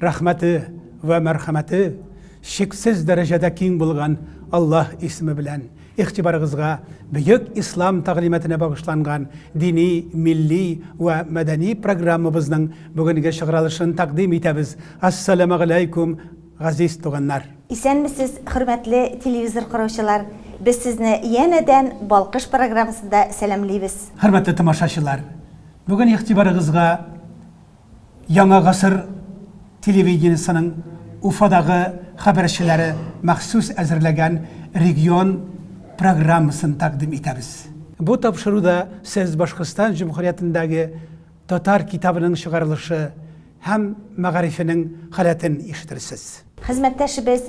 Рәхмәте вә мәрхәмәте чиксез дәрәҗәдә киң булган Аллаһ исеме белән игътибарыгызга бөек Ислам тәгълиматына багышланган дини, милли вә мәдәни программабызның бүгенге чыгыралышын тәкъдим итәбез. Ассаләмәгаләйкүм, газиз туганнар! Исәнмесез, хөрмәтле телевизор караучылар! Без сезне янәдән Балкыш программасында сәламлибез. Хөрмәтле тамашачылар! Бүген игътибарыгызга Яңа гасыр телевидениесенең Уфадагы хәбәрчеләре махсус әзерләгән регион программасын тәкъдим итәбез. Бу тапшыруда сез Башкортстан Җөмһүриятендәге татар китабының чыгарылышы һәм мәгарифенең халәтен ишетерсез. Хезмәттәшебез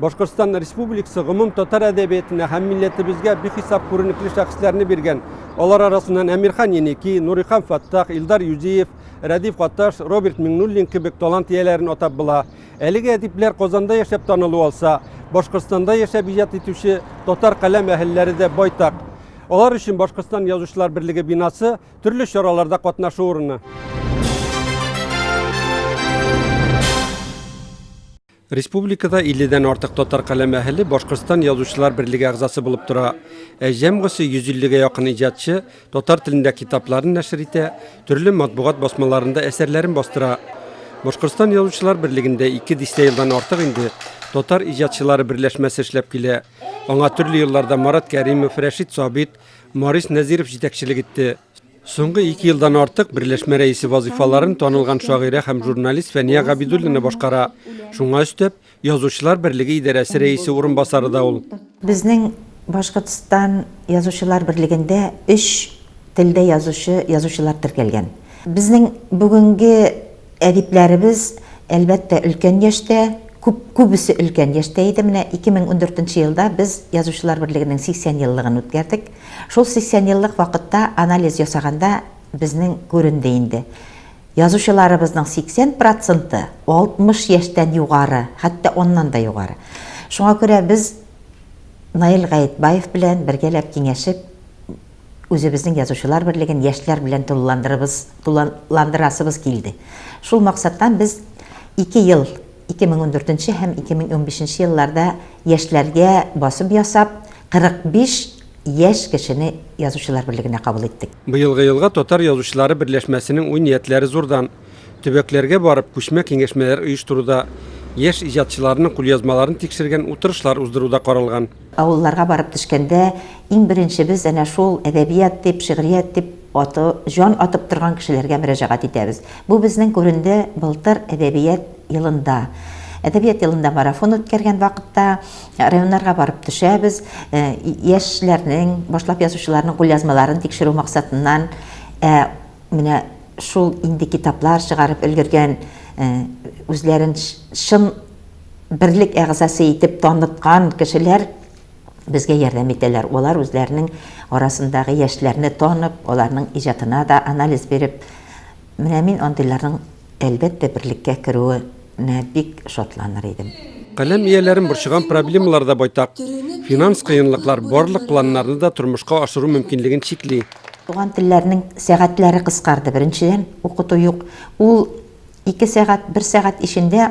Башкортстан Республикасы гомум татар әдәбиятына һәм милләтебезгә бихисап күренекле шәхесләрне биргән. Алар арасыннан Әмирхан Еники, Нурихан Фаттах, Илдар Юзиев, Рәдиф Гаташ, Роберт Миңнуллин кебек талант ияләрен атап була. Әлеге әдипләр Казанда яшәп танылу алса, Башкортстанда яшәп иҗат итүче татар каләм әһелләре дә байтак. Алар өчен Башкортстан язучылар берлеге бинасы төрле чараларда катнашу урыны. Республикада 50 дән артык татар каләм әһеле Башкортстан Язучылар берлеге әгъзасы булып тора. Ә җәмгысе 150 гә якын иҗатчы татар телендә китапларын нәшер итә, төрле матбугат басмаларында әсәрләрен бастыра. Башкортстан Язучылар берлегендә ике дистә елдан артык инде татар иҗатчылары берләшмәсе эшләп килә. Аңа төрле елларда Марат Кәримов, Рәшит Сабит, Марис Нәзиров җитәкчелек итте. Соңгы ике елдан артык берләшмә рәисе вазыйфаларын танылган шагыйрә һәм журналист Фәния Габидуллина башкара. Шуңа өстәп, Язучылар берлеге идарәсе рәисе урынбасары да ул. Безнең Башкортстан Язучылар берлегендә өч телдә язучы язучылар теркәлгән. Безнең бүгенге әдипләребез, әлбәттә, өлкән яшьтә, күп, күбесе өлкән яшьтә иде. Менә 2014 елда без Язучылар берлегенең 80 еллыгын үткәрдек. Шул 80 еллык вакытта анализ ясаганда безнең күренде инде. Язучыларыбызның 80 проценты 60 яшьтән югары, хәтта аннан да югары. Шуңа күрә без Наил Гаетбаев белән бергәләп киңәшеп, үзебезнең язучылар берлеген яшьләр белән тулыландырабыз, тулыландырасыбыз килде. Шул максаттан без ике ел 2014 һәм 2015 елларда яшьләргә басым ясап, 45 яшь кешене Язучылар берлегенә кабул иттек. Быелгы елга татар язучылары берләшмәсенең уй-ниятләре зурдан. Төбәкләргә барып, күчмә киңәшмәләр оештыруда, яшь иҗатчыларның кулъязмаларын тикшергән утырышлар уздыру да каралган. Авылларга барып төшкәндә, иң беренче без әнә шул әдәбият дип, шигърият дип аты, җан атып торган кешеләргә мөрәҗәгать итәбез. Бу безнең күренде былтыр әдәбият елында. Әдәбият елында марафон үткәргән вакытта районнарга барып төшәбез, яшьләрнең, башлап язучыларның кулъязмаларын тикшерү максатыннан. Ә менә шул инде китаплар чыгарып өлгергән, үзләрен чын, берлек әгъзасы итеп таныткан кешеләр безгә ярдәм итәләр. Алар үзләренең арасындагы яшьләрне танып, аларның иҗатына да анализ биреп, менә мин андыйларның, әлбәттә, берлеккә керүенә бик шатланыр идем. Каләм ияләрен борчыган проблемалар да байтак. Финанс кыенлыклар барлык планнарны да тормышка ашыру мөмкинлеген чикли. Туган телләрнең сәгатьләре кыскарды. Беренчедән, укыту юк. Ул ике сәгать, бер сәгать эчендә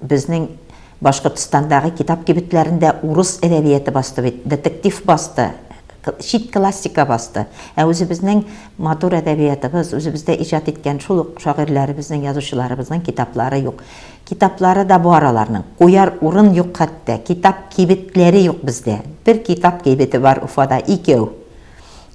Безнең Башкортстандагы китап кибетләрендә урыс әдәбияты басты бит, детектив басты, чит классика басты. Ә үзебезнең матур әдәбиятыбыз, үзебездә иҗат иткән шул ук шагыйрьләребезнең, язучыларыбызның китаплары юк. Китаплары да бар аларның, куяр урын юк хәтта, китап кибетләре юк бездә. Бер китап кибете бар Уфада, икәү.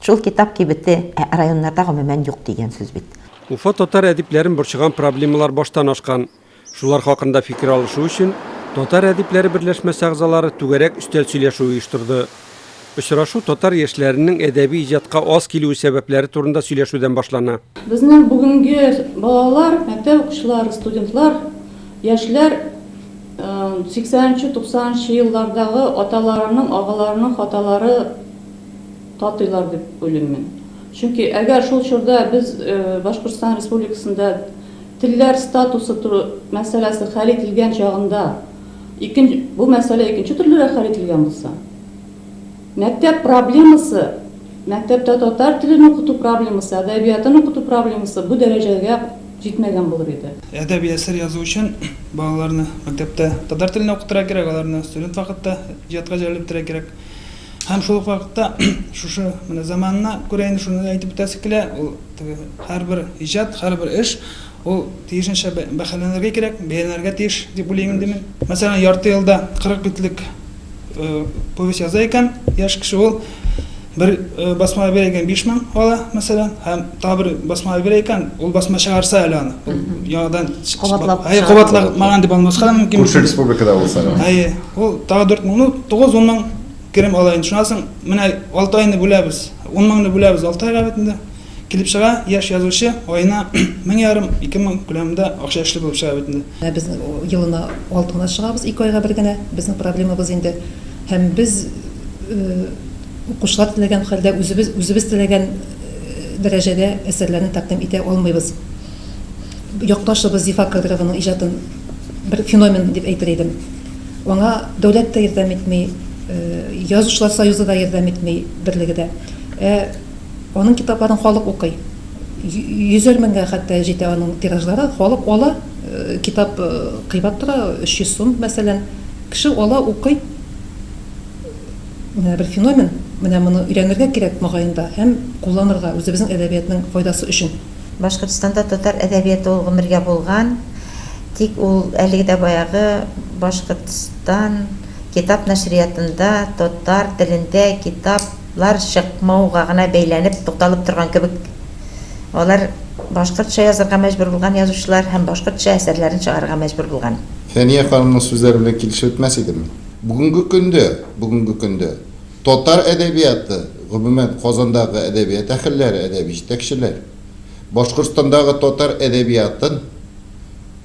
Шул китап кибете, ә районнарда гомумән юк дигән сүз бит. Уфа татар әдипләрен борчыган проблемалар баштан ашкан. Шулар хакында фикер алышу өчен Татар әдипләре берләшмәсе әгъзалары түгәрәк өстәл сөйләшүе оештырды. Очрашу татар яшьләренең әдәби иҗатка аз килүе сәбәпләре турында сөйләшүдән башлана. Безнең бүгенге балалар, мәктәп укучылары, студентлар, яшьләр 80 нче, 90 нчы еллардагы аталарының, агаларының хаталары татыйлар дип уйлыйм мин. Чөнки әгәр шул чорда без Башкортстан Республикасында Телләр статусы туры мәсьәләсе хәл ителгән чагында, ике бу мәсьәлә икенче төрлерәк хәл ителгән булса, мәктәп проблемасы, мәктәптә татар телен укыту проблемасы, әдәбиятын укыту проблемасы бу дәрәҗәгә җитмәгән булыр иде. Әдәби әсәр язу өчен балаларны мәктәптә татар телендә укытырга кирәк, аларны студент вакытта иҗатка җәлеп итәргә кирәк. Һәм шул ук вакытта шушы менә заманына күрә инде шуны да әйтеп үтәсе килә, ул теге һәрбер иҗат, һәрбер эш ул тиешенчә бәһаләнергә кирәк, бәяләнергә тиеш дип уйлыйм инде мин. Мәсәлән, ярты елда 40 битлек повесть яза икән яшь кеше, ул бер басмага бирә икән 5000 ала, мәсәлән, һәм Тагы бер басма әйбер икән, ул басма чыгарса әле аны. Ул яңадан кабатлап. Әйе, кабатламаган дип алмаска да мөмкин. Күрше республикада булса. Әйе. Ул тагы 4 мең, ну 9 10 мең керем ала инде. Шуннан соң менә 6 айны бүләбез. 10 меңне бүләбез 6 айга бит инде. Килеп чыга, яшь язучы аена 1000 ярым, 2000 күләмендә акча эшле булып чыга бит инде. Ә без елына 6 гына чыгабыз, 2 айга бер генә. Безнең проблемабыз инде һәм без Укучылар теләгән хәлдә үзебез, үзебез теләгән дәрәҗәдә әсәрләрне тәкъдим итә алмыйбыз. Якташыбыз Зифа Кадрованың иҗатын бер феномен дип әйтер идем. Аңа дәүләт тә ярдәм итми, Язучылар союзы да ярдәм итми, берлеге дә. Ә аның китапларын халык укый. Йөзәр меңгә хәтта җитә аның тиражлары. Халык ала, китап кыйбат тора, 300 сум, мәсәлән. Кеше ала, укый. Менә бер феномен, менә моны өйрәнергә кирәк, мөгаен да, һәм кулланырга, үзебезнең әдәбиятның файдасы өчен. Башкортстанда татар әдәбияты ул гомергә булган, тик ул әлеге дә баягы Башкортстан китап нәшриятында татар телендә китап лар чыкмауга гына бәйләнеп тукталып торган кебек. Алар башкортча язырга мәҗбүр булган язучылар һәм башкортча әсәрләрен чыгарырга мәҗбүр булган. Фәния ханымның сүзләре белән килешеп бетмәс идеме? Бүгенге көндә, бүгенге көндә татар әдәбияты, гомумән, Казандагы әдәбият әһелләре, әдәби җитәкчеләр Башкортстандагы татар әдәбиятын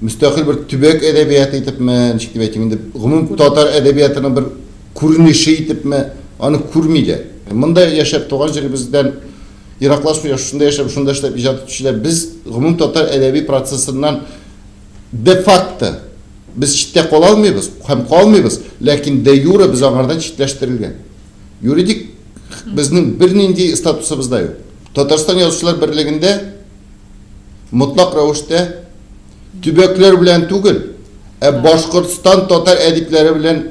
мөстәкыйль бер төбәк әдәбияты итепме, ничек дип әйтим инде, гомум татар әдәбиятының бер күренеше итепме, аны күрмиләр. Монда яшәп, туган җиребездән ераклашмый, шушында яшәп, шунда эшләп иҗат итүчеләр, без гомум татар әдәби процессыннан де-факто, Без читтә кала алмыйбыз һәм калмыйбыз, ләкин де-юре без аңардан читләштерелгән. Юридик безнең бернинди статусыбыз да юк. Татарстан Язучылар берлегендә мотлак рәвештә төбәкләр белән түгел, ә Башкортстан татар әдипләре белән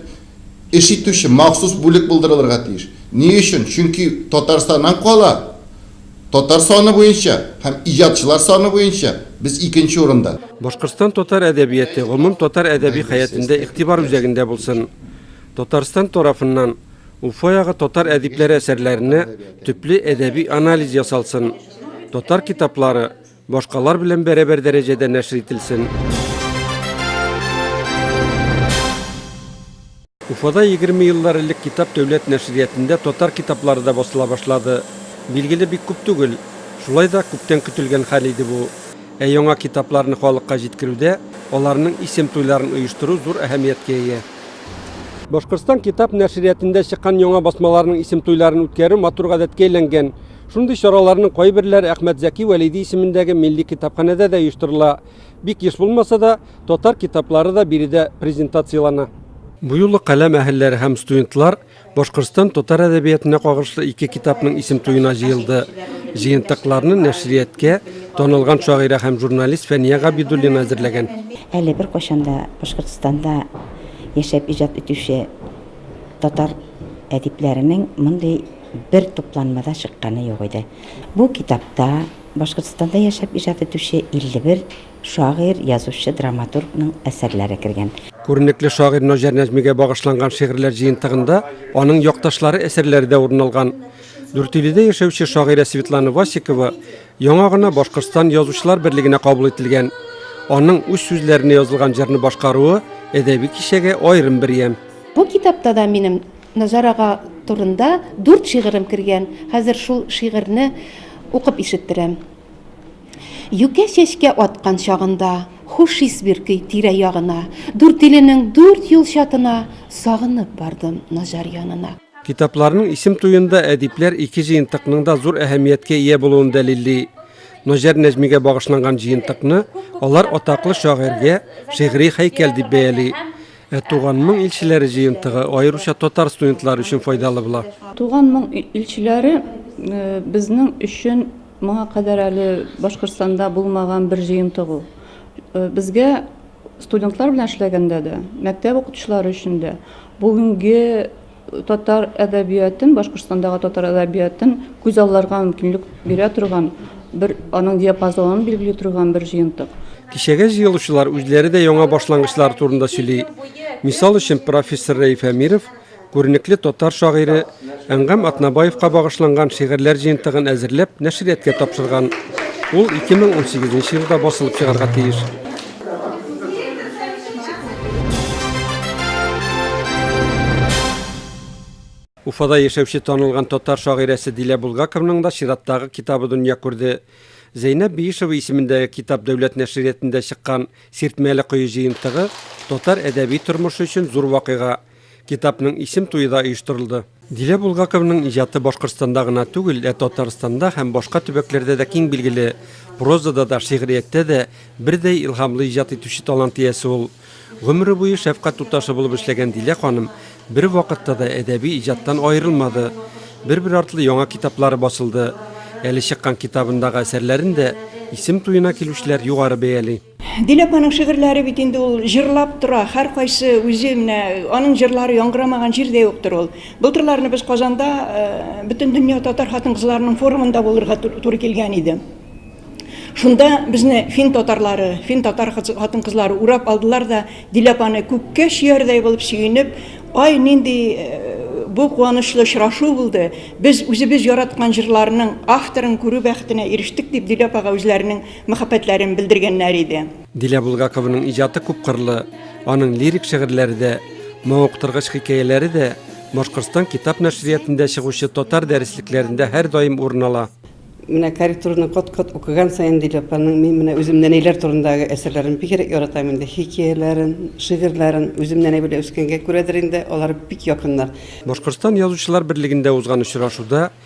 Эш итүче махсус бүлек булдырылырга тиеш. Ни өчен? Чөнки Татарстаннан кала татар саны буенча һәм иҗатчылар саны буенча без икенче урында. Башкортстан татар әдәбияты гомум татар әдәби хәятендә игътибар үзәгендә булсын. Татарстан тарафыннан Уфа ягы татар әдипләре әсәрләренә төпле әдәби анализ ясалсын, татар китаплары, Башкалар белән бәрабәр дәрәҗәдә нәшер ителсен. Уфада 20 еллар элек китап дәүләт нәшриятендә татар китаплары да басыла башлады. Билгеле бик күп түгел. Шулай да күптән көтелгән хәл иде бу. Ә яңа китапларны халыкка җиткерүдә аларның исем туйларын оештыру зур әһәмияткә ия. Башкортстан китап нәшриятендә чыккан яңа басмаларның исем туйларын үткәрү матур гадәткә әйләнгән. Шундый чараларның кайберләре Әхмәт Зәки Вәлиди исемендәге милли китапханәдә дә оештырыла. Бик еш булмаса да, татар китаплары да биредә презентациялана. Бу юлы каләм әһелләре һәм студентлар Башкортстан татар әдәбиятына кагышлы ике китапның исем туена җыелды. Җыентыкларны нәшрияткә танылган шагыйрә һәм журналист Фәния Габидуллина әзерләгән. Әле беркайчан да Башкортстанда яшәп иҗат итүче татар әдипләренең мондый бер тупланмада чыкканы юк иде. Бу китапта Башкортстанда яшәп иҗат итүче 51 шагыйрь, язучы, драматургның әсәрләре кергән. Күренекле шагыйрь Наҗар Нәҗмигә багышланган шигырьләр җыентыгында аның якташлары әсәрләре дә урын алган. Дүртөйледә яшәүче шагыйрә Светлана Васикова яңа гына Башкортстан Язучылар берлегенә кабул ителгән. Аның үз сүзләренә язылган җырны башкаруы әдәби кичәгә аерым бер ямь. Бу китапта да минем Назар ага турында дүрт шигырем кергән, хәзер шул шигырьне укып ишеттерәм. Юкә чәчкә аткан чагында, Хуш ис биркөй тирә-ягына, Дүртиленең дүрт юл чатына, Сагынып бардым Наҗар янына. Китапларның исем туенда әдипләр ике җыентыкның да зур әһәмияткә ия булуын дәлилли. Наҗар Нәҗмигә багышланган җыентыкны алар атаклы шагыйрьгә шигъри һәйкәл дип бәяли. Ә Туган моң илчеләре җыентыгы аеруча татар студентлары өчен файдалы була. Туган моң илчеләре безнең өчен моңа кадәр әле Башкортстанда булмаган бер җыентык ул. Безгә студентлар белән эшләгәндә дә, мәктәп укытучылары өчен дә бүгенге Татар әдәбиятын, Башкортстандагы татар әдәбиятын күз алларга мөмкинлек бирә торган, бер аның диапазонын билгели торган бер җыентык. Кичәгә җыелучылар үзләре дә яңа башлангычлар турында сөйли. Мисал өчен профессор Рәиф Әмиров күренекле татар шагыйре Әнгам Атнабаевка багышланган шигырьләр җыентыгын әзерләп нәшрияткә тапшырган. Ул 2018 елда басылып чыгарга тиеш. Уфада яшәүче танылган татар шагыйрәсе Дилә Булгаковның да чираттагы китабы дөнья күрде. Зәйнәб Биишева исемендәге Китап дәүләт нәшриятендә чыккан Сиртмәле кое җыентыгы татар әдәби тормышы өчен зур вакыйга. Китапның исем туе да оештырылды. Дилә Булгаковның иҗаты Башкортстанда гына түгел, ә Татарстанда һәм башка төбәкләрдә дә киң билгеле. Прозада да, шигърияттә дә бердәй илһамлы иҗат итүче талант иясе ул. Гомере буе шәфкать туташы булып эшләгән Дилә ханым бервакытта да әдәби иҗаттан аерылмады. Бер-бер артлы яңа китаплары басылды. Әле чыккан китабындагы әсәрләрен дә исем туена килүчеләр югары бәяли. Дилә апаның шигырьләре бит инде ул җырлап тора, һәркайсы үзе менә аның җырлары яңгырамаган җир дә юктыр ул. Былтырларны без Казанда Бөтендөнья татар хатын-кызларының форумында булырга туры килгән иде. Шунда безне фин татарлары, фин татар хатын-кызлары урап алдылар да, Дилә апаны күккә чөярдәй булып сөенеп, Ай, нинди бу куанычлы очрашу булды, без үзебез яраткан җырларның авторын күрү бәхетенә ирештек, дип Дилә апага үзләренең мәхәббәтләрен белдергәннәр иде. Дилә Булгакованың иҗаты күпкырлы, аның лирик шигырьләре дә, мавыктыргыч хикәяләре дә Башкортстан китап нәшриятендә чыгучы татар дәреслекләрендә һәрдаим урын ала. Менә корректураны кат-кат укыган саен Дилә апаның мин менә үзем нәнәйләр турындагы әсәрләрен бигрәк яратам инде. Хикәяләрен, шигырьләрен үзем нәнәй белән үскәнгә күрәдер инде, алар бик якыннар. Башкортстан Язучылар берлегендә узган очрашуда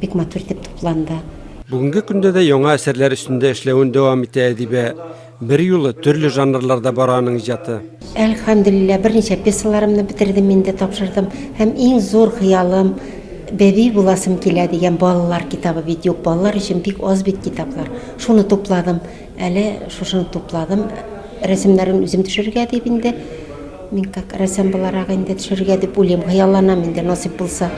Бик матур итеп тупланды. Бүгенге көндә дә яңа әсәрләр өстендә эшләвен дәвам итә әдибә. Берьюлы төрле жанрларда бара аның иҗаты. Әлхәмдүлилләһ, берничә пьесаларымны бетердем инде, тапшырдым. Һәм иң зур хыялым, Бәби буласым килә дигән балалар китабы бит юк, балалар өчен бик аз бит китаплар. Шуны тупладым. Әле шушыны тупладым. Рәсемнәрен үзем төшерергә дип инде. Мин как рәсәм буларак инде төшерергә дип уйлыйм, хыялланам инде насыйп булса.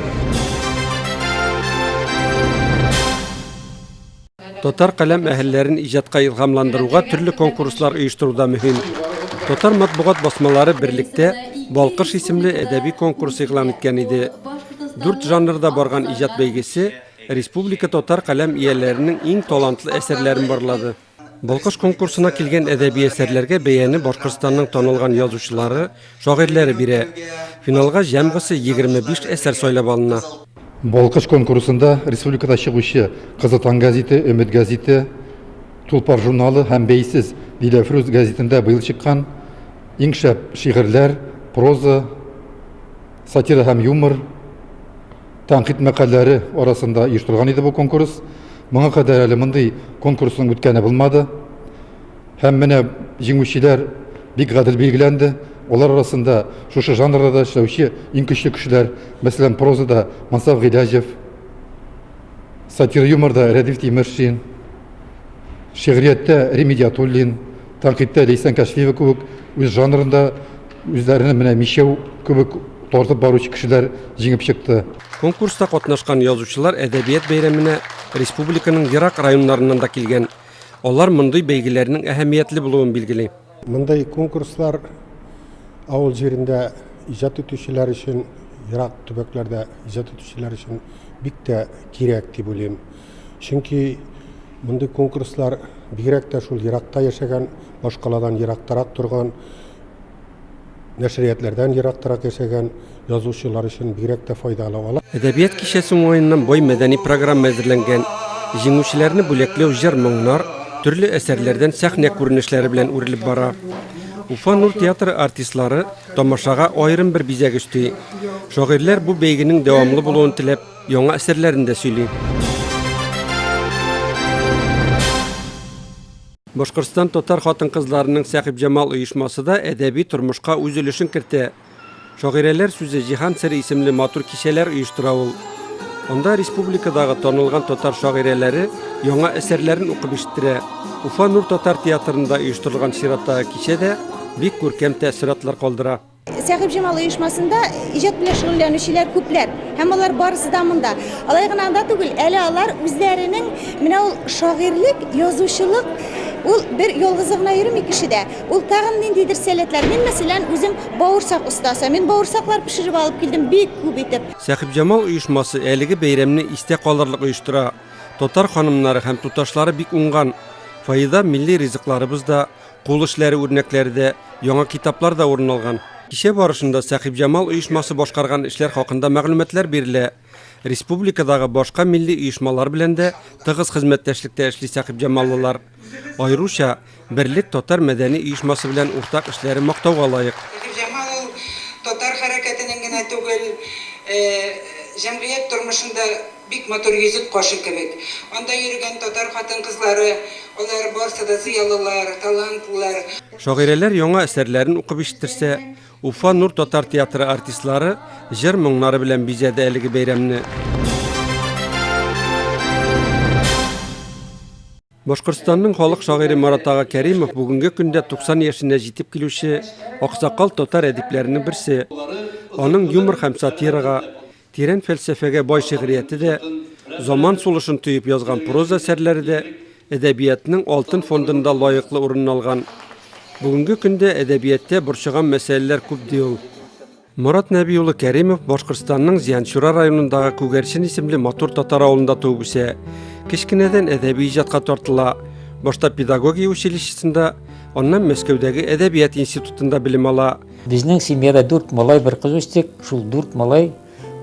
Татар каләм әһелләрен иҗатка илһамландыруга төрле конкурслар оештыру да мөһим. Татар матбугат басмалары берлектә Балкыш исемле әдәби конкурс игълан иткән иде. Дүрт жанрда барган иҗат бәйгесе Республика татар каләм ияләренең иң талантлы әсәрләрен барлады. Балкыш конкурсына килгән әдәби әсәрләргә бәяне Башкортстанның танылган язучылары, шагыйрьләре бирә. Финалга җәмгысе 25 әсәр сайлап алына. Балкыш конкурсында республикада чыгучы Кызыл таң гәзите, Өмет гәзите, Тулпар журналы һәм Бәйсез Диләфрүз гәзитендә быел чыккан иң шәп шигырьләр, проза, сатира һәм юмор, Тәнкыйть мәкаләләре арасында оештырылган иде бу конкурс. Моңа кадәр әле мондый конкурсның үткәне булмады. Һәм менә җиңүчеләр бик гадел билгеләнде. Алар арасында шушы жанрда да эшләүче иң көчле кешеләр, мәсәлән, прозада Мансаф Гыйләҗев, сатира-юморда Рәдиф Тимершин, шигърияттә Рим Идиатуллин, тәнкыйтьтә Ләйсән Кәшфиева кебек үз жанрында Үзләренә менә мичәү кебек тартып баручы кешеләр җиңеп чыкты. Конкурста катнашкан язучылар әдәбият бәйрәменә республиканың ерак районнарыннан да килгән. Алар мондый бәйгеләрнең әһәмиятле булуын билгели. Мондый конкурслар авыл җирендә иҗат итүчеләр өчен, ерак төбәкләрдә иҗат итүчеләр өчен бик тә кирәк дип уйлыйм. Чөнки мондый конкурслар бигрәк тә шул еракта яшәгән, башкаладан ерактарак торган, нәшриятләрдән ерактарак яшәгән язучылар өчен бигрәк тә файдалы. Алар Әдәбият кичәсе уңаеннан бай мәдәни программа әзерләнгән. Җиңүчеләрне бүләкләү җыр-моңнар, төрле әсәрләрдән сәхнә күренешләре белән үрелеп бара. Уфа Нур театры артистлары тамашага аерым бер бизәк өсти. Шагыйрьләр бу бәйгенең дәвамлы булуын теләп, Яңа серләрен дә сөйли. Башкортстан татар хатын-кызларының Сәхибҗамал оешмасы да әдәби тормышка үз өлешен кертә. Шагыйрәләр сүзе Җиһан сере исемле матур кичәләр оештыра ул. Анда республикадагы танылган татар шагыйрәләре яңа әсәрләрен укып ишеттерә. Уфа Нур татар театрында оештырылган чираттагы кичә дә бик күркәм тәэссоратлар калдыра. Сәхиб Җамал оешмасында иҗат белән шөгыльләнүчеләр күпләр һәм алар барысы да монда. Алай гына анда түгел, әле алар үзләренең менә ул шагыйрьлек, язучылык ул бер ялгызы гына йөрми кешедә. Ул тагын ниндидер сәләтләр. Мин, мәсәлән, үзем бавырсак остасы. Мин бавырсаклар пешереп алып килдем бик күп итеп. Сәхиб Җамал оешмасы әлеге бәйрәмне истә калырлык оештыра. Татар ханымнары һәм туташлары бик уңган. Фаиза милли ризыкларыбыз да, Кул эшләре үрнәкләре дә, яңа китаплар да урын алган. Кичә барышында Сәхибҗамал оешмасы башкарган эшләр хакында мәгълүматлар бирелә. Республикадагы башка милли оешмалар белән дә тыгыз хезмәттәшлектә эшли сәхибҗамаллылар. Аеруча Берлек татар мәдәни оешмасы белән уртак эшләре мактауга лаек. Сәхибҗамал ул татар хәрәкәтенең генә түгел, җәмгыять тормышында Бик матур йөзек кашы кебек. Анда йөрегән татар хатын-кызлары, алар барсы да зыялылар, талантлылар. Шагыйрәләр яңа әсәрләрен укып ишеттерсә, Уфа Нур татар театры артистлары җыр-моңнары белән бизәде әлеге бәйрәмне. Башкортстанның халык шагыйре Марат ага Кәримов бүгенге көндә 90 яшенә җитеп килүче аксакал татар әдипләренең берсе. Аның юмор һәм сатирага, Тирән фәлсәфәгә бай шигърияте дә, заман сулышын тоеп язган проза әсәрләре дә әдәбиятның алтын фондында лаеклы урынын алган. Бүгенге көндә әдәбияттә борчыган мәсьәләләр күп, ди ул. Морат Нәби улы Кәримов Башкортстанның Зианчура районындагы Күгәрчен исемле матур татар авылында туып үсә. Кечкенәдән әдәби иҗатка тартыла. Башта педагогия училищесында, аннан Мәскәүдәге әдәбият институтында белем ала. Безнең семьяда дүрт малай, бер кыз үстек. Шул дүрт малай,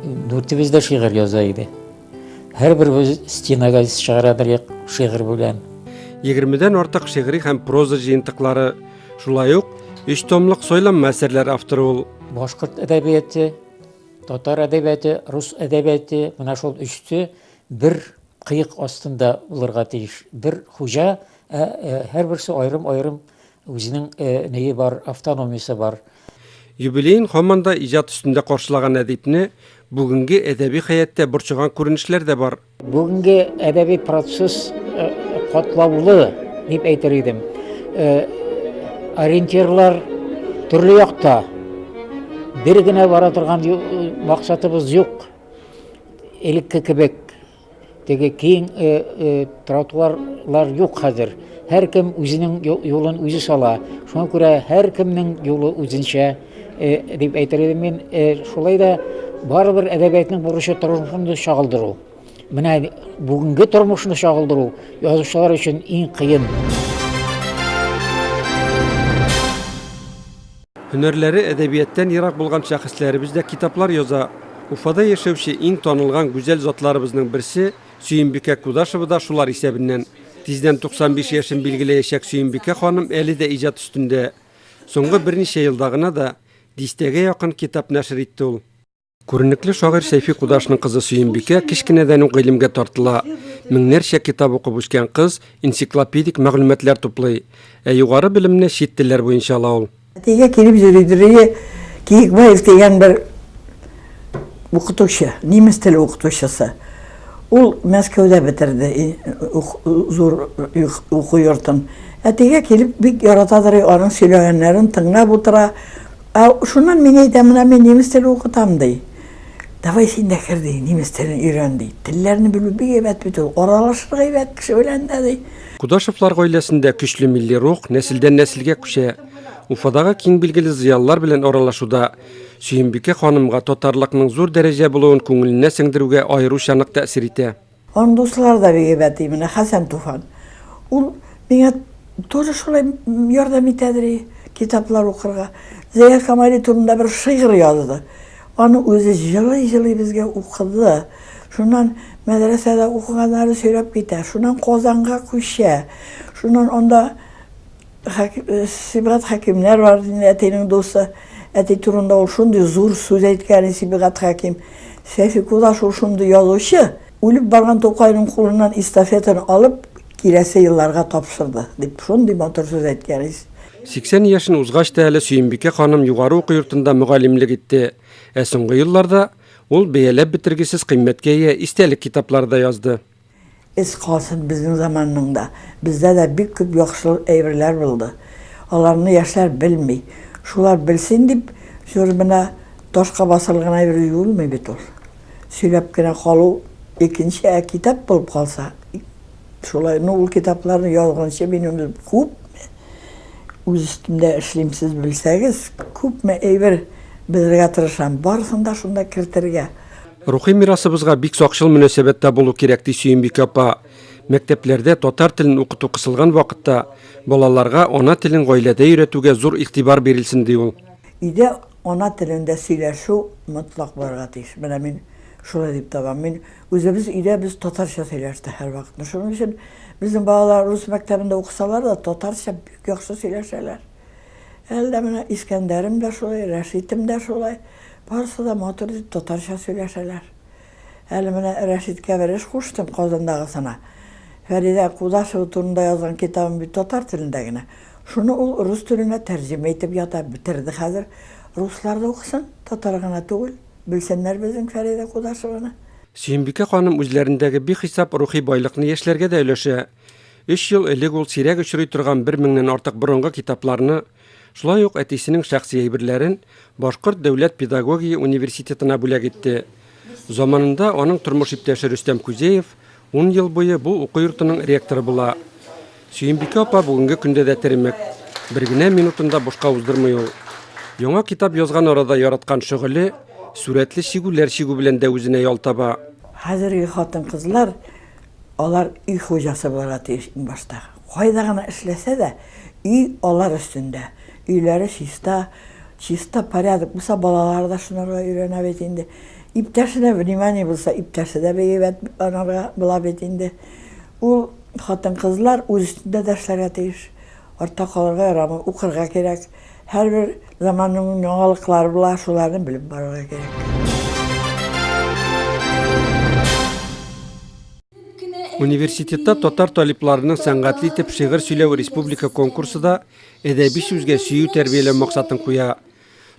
дүртебез дә шигырь яза иде. Һәрберебез стенага чыгара идек шигырь белән. Егермедән артык шигъри һәм проза җыентыклары, шулай ук өч томлык сойланма әсәрләр авторы ул. Башкорт әдәбияте, татар әдәбияте, рус әдәбияте, менә шул өчте бер кыек астында булырга тиеш. Бер хуҗа, ә һәрберсе аерым-аерым Үзенең нее бар, автономиясе бар. Юбилеен һаман да иҗат өстендә каршылаган әдипне бүгенге әдәби хәяттә борчыган күренешләр дә бар. Бүгенге әдәби процесс катлаулы дип әйтер идем. Ориентирлар төрле якта. Бер генә бара торган максатыбыз юк. Элекке кебек Теге киң э, э, тротуарлар юк хәзер. Һәркем үзенең юлын үзе сала. Шуңа күрә һәркемнең юлы үзенчә э, дип әйтер идем мин. Э, шулай да барыбер әдәбиятның бурычы тормышны чагылдыру. Менә бүгенге тормышны чагылдыру язучылар өчен иң кыен. Һөнәрләре әдәбияттан ерак булган шәхесләребез дә китаплар яза. Уфада яшәүче иң танылган гүзәл затларыбызның берсе Сөембикә Кудашева да шулар исәбеннән. Тиздән 95 яшен билгеләячәк Сөембикә ханым әле дә иҗат өстендә. Соңгы берничә елда гына да дистәгә якын китап нәшер итте ул. Күренекле шагыйрь Сәйфи Кудашның кызы Сөембикә кечкенәдән үк гыйлемгә тартыла. Меңнәрчә китап укып үскән кыз энциклопедик мәгълүматлар туплый. Ә югары белемне чит телләр буенча ала ул. Әтигә килеп йөри дөрие Киекбаев дигән бер укытучы, немец теле укытучысы. Ул Мәскәүдә бетерде зур уку йортын. Әтигә килеп бик яратадыр, аның сөйләгәннәрен тыңлап утыра. Ә шуннан мин әйтәм, менә мин немец теле укытам, ди. Давай син дә кер, ди, немец телен өйрән, ди. Телләрне белү бик әйбәт бит ул, аралашырга әйбәт кеше белән дә, ди. Кудашевлар гаиләсендә көчле милли рух нәселдән-нәселгә күчә. Уфадагы киң билгеле зыялылар белән аралашуда Сөембикә ханымга татарлыкның зур дәрәҗә булуын күңеленә сеңдерүгә аеруча нык тәэсир итә. Аның дуслары да бик әйбәт, и менә Хәсән Туфан. Ул миңа тоже шулай ярдәм итәдер, и китаплар укырга. Зәя Камали турында бер шигырь язды. Аны үзе җылый-җылый безгә укыды. Шуннан мәдрәсәдә укыганнары сөйләп китә. Шуннан Казанга күчә. Шуннан анда Сибгат Хәкимнәр бар иде инде, әтинең дусты. Әти турында ул шундый зур сүз әйткән иде Сибгат Хәким. Сәйфи Кудаш ул шундый язучы, үлеп барган Тукайның кулыннан эстафетаны алып, киләсе елларга тапшырды, дип шундый матур сүз әйткән иде. 80 яшен узгач та әле Сөембикә ханым югары уку йортында мөгаллимлек итте. Ә соңгы елларда ул бәяләп бетергесез кыйммәткә ия истәлек китаплары да язды. Эз калсын безнең заманның да. Бездә дә бик күп яхшыл әйберләр булды. Аларны яшьләр белми. Шулар белсен дип, зур бина ташка басылы гына йөрү юлмый бит ул. Сөйләп кенә калу икенче, ә китап булып калса, шулай, ну, ул китапларны язгынчы минем күпме үз өстемдә эшлим, сез белсәгез, күпме әйбер белергә тырышам, барысын да шунда кертергә. Рухи мирасыбызга бик сакчыл мөнәсәбәттә булу кирәк, ди Сөембикә апа. Мәктәпләрдә татар телен укыту кысылган вакытта балаларга ана телен гаиләдә өйрәтүгә зур игътибар бирелсен, ди ул. Өйдә ана телендә сөйләшү мотлак булырга тиеш. Менә мин шулай дип табам. Мин үзебез өйдә без татарча сөйләштек һәрвакытны. Шуның өчен безнең балалар рус мәктәбендә укысалар да, татарча бик яхшы сөйләшәләр. Әле дә менә Искәндәрем дә шулай, Рәшитем дә шулай. Барысы да матур итеп татарча сөйләшәләр. Әле менә Рәшиткә бер эш куштым, Казандагысына. Фәридә Кудашева турында язган китабым бит татар телендә генә. Шуны ул рус теленә тәрҗемә итеп ята, бетерде хәзер. Руслар да укысын, татар гына түгел, белсеннәр безнең Фәридә Кудашеваны. Сөембикә ханым үзләрендәге бихисап рухи байлыкны яшьләргә дә өләшә. Өч ел элек ул сирәк очрый торган бер меңнән артык борынгы китапларны, шулай ук әтисенең шәхси әйберләрен Башкорт дәүләт педагогия университетына бүләк итте. Заманында аның тормыш иптәше Рөстәм Күзеев ун ел буе бу уку йортының ректоры була. Сөембикә апа бүгенге көндә дә теремек. Бер генә минутын да бушка уздырмый ул. Яңа китап язган арада яраткан шөгыле сурәтле чигүләр чигү белән дә үзенә ял таба. Хәзерге хатын-кызлар Алар өй хуҗасы булырга тиеш иң башта. Кайда гына эшләсә дә, өй алар өстендә. Өйләре чиста, чиста, порядок булса, балалары да шунарга өйрәнә бит инде. Иптәшенә внимание булса, иптәше дә бик әйбәт анарга була бит инде. Ул хатын-кызлар үз өстендә дә эшләргә тиеш. Артта калырга ярамый, укырга кирәк. Һәрбер заманның яңалыклары була, шуларны белеп барырга кирәк. Университетта татар талипларының сәнгатьле итеп шигырь сөйләве республика конкурсы да әдәби сүзгә сөю тәрбияләү максатын куя.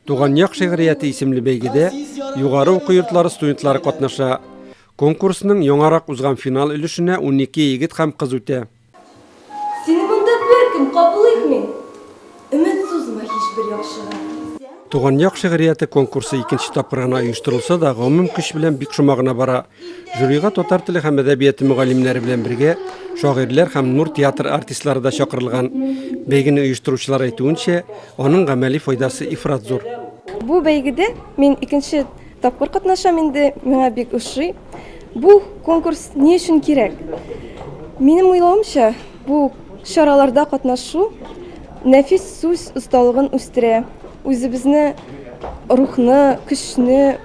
Туган як шигърияте исемле бәйгедә югары уку йортлары студентлары катнаша. Конкурсның яңарак узган финал өлешенә 12 егет һәм кыз үтә. Сине монда беркем кабул итми. Өмет сузма һичбер яхшыга. Туган як шигърияте конкурсы икенче тапкыр гына оештырылса да, гомум көч белән бик шома гына бара. Жюрига татар теле һәм әдәбияты мөгаллимнәре белән бергә шагыйрьләр һәм Нур театр артистлары да чакырылган. Бәйгене оештыручылар әйтүенчә, аның гамәли файдасы ифрат зур. Бу бәйгедә мин икенче тапкыр катнашам инде, миңа бик ошый. Бу конкурс ни өчен кирәк? Минем уйлавымча, бу чараларда катнашу нәфис сүз осталыгын үстерә, үзебезне рухны, көчне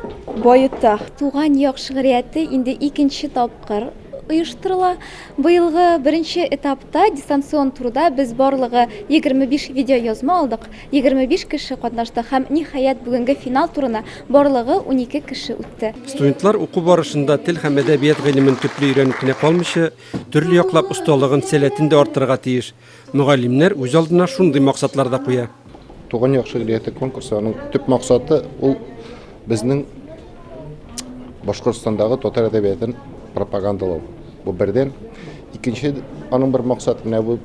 баета. Туган як шигърияте инде икенче тапкыр оештырыла. Быелгы беренче этапта дистанцион турда без барлыгы 25 видеоязма алдык. Егерме биш кеше катнашты һәм, ниһаять, бүгенге финал турына барлыгы унике кеше үтте. Студентлар уку барышында тел һәм әдәбият гыйлемен төпле өйрәнеп кенә калмыйча, төрле яклап осталыгын, сәләтен дә арттырырга тиеш. Мөгаллимнәр үз алдына шундый максатлар да куя. Туган як шигърияте конкурсы, аның төп максаты, ул безнең башкортстандагы татар әдәбиятын пропагандалау бу бердән икенче аның бер максаты менә бу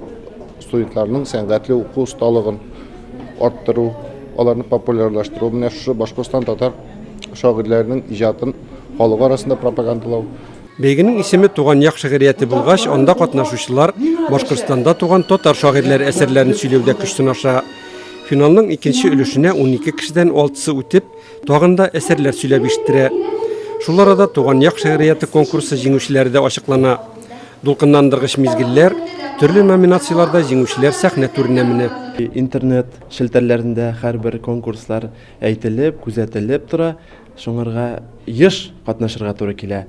студентларның сәнгатьле уку осталыгын арттыру аларны популярлаштыру менә шушы башкортстан татар шагыйрьләренең иҗатын халык арасында пропагандалау Бәйгенең исеме туган як шигърияте булгач, анда катнашучылар Башкортстанда туган татар шагыйрьләре әсәрләрен сөйләүдә көч сынаша. Финалның икенче өлешенә 12 кешедән алтысы үтеп, Тагын да әсәрләр сөйләп ишеттерә. Шул арада Туган як шигърияте конкурсы җиңүчеләре дә ачыклана. Дулкынландыргыч мизгелләр, төрле номинацияләрдә җиңүчеләр сәхнә түренә менә. Интернет челтәрләрендә һәрбер конкурслар әйтелеп, күзәтелеп тора, шуңарга еш катнашырга туры килә.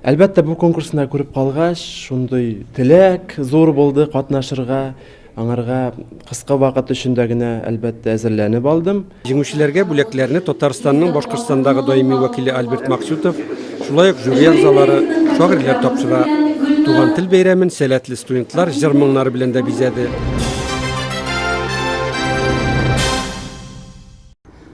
Әлбәттә, бу конкурсны күреп калгач, шундый теләк зур булды катнашырга. Аңарга кыска вакыт эчендә генә, әлбәттә, әзерләнеп алдым. Җиңүчеләргә бүләкләрне Татарстанның Башкортстандагы даими вәкиле Альберт Максютов, шулай ук жюри әгъзалары, шагыйрьләр тапшыра. Туган тел бәйрәмен сәләтле студентлар җыр-моңнары белән дә бизәде.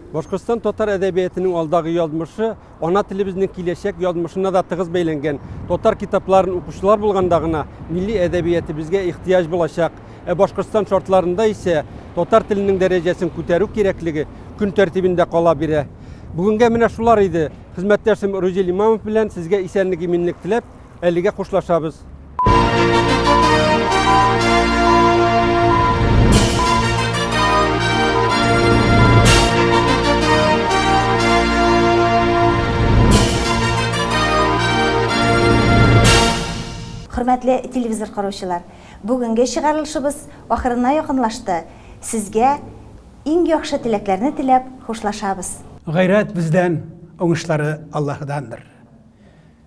Башкортстан татар әдәбиятының алдагы язмышы Ана телебезнең киләчәк язмышына да тыгыз бәйләнгән татар китапларын укучылар булганда гына милли әдәбиятебезгә ихтыяҗ булачак. Ә Башкортстан шартларында исә татар теленең дәрәҗәсен күтәрү кирәклеге көн тәртибендә кала бирә. Бүгенгә менә шулар иде. Хезмәттәшем Рузил Имамов белән сезгә исәнлек-иминлек теләп, Әлегә хушлашабыз. Хөрмәтле телевизор караучылар, бүгенге чыгарылышыбыз ахырына якынлашты. Сезгә иң яхшы теләкләрне теләп хушлашабыз. Гайрәт бездән, уңышлары Аллаһыдандыр.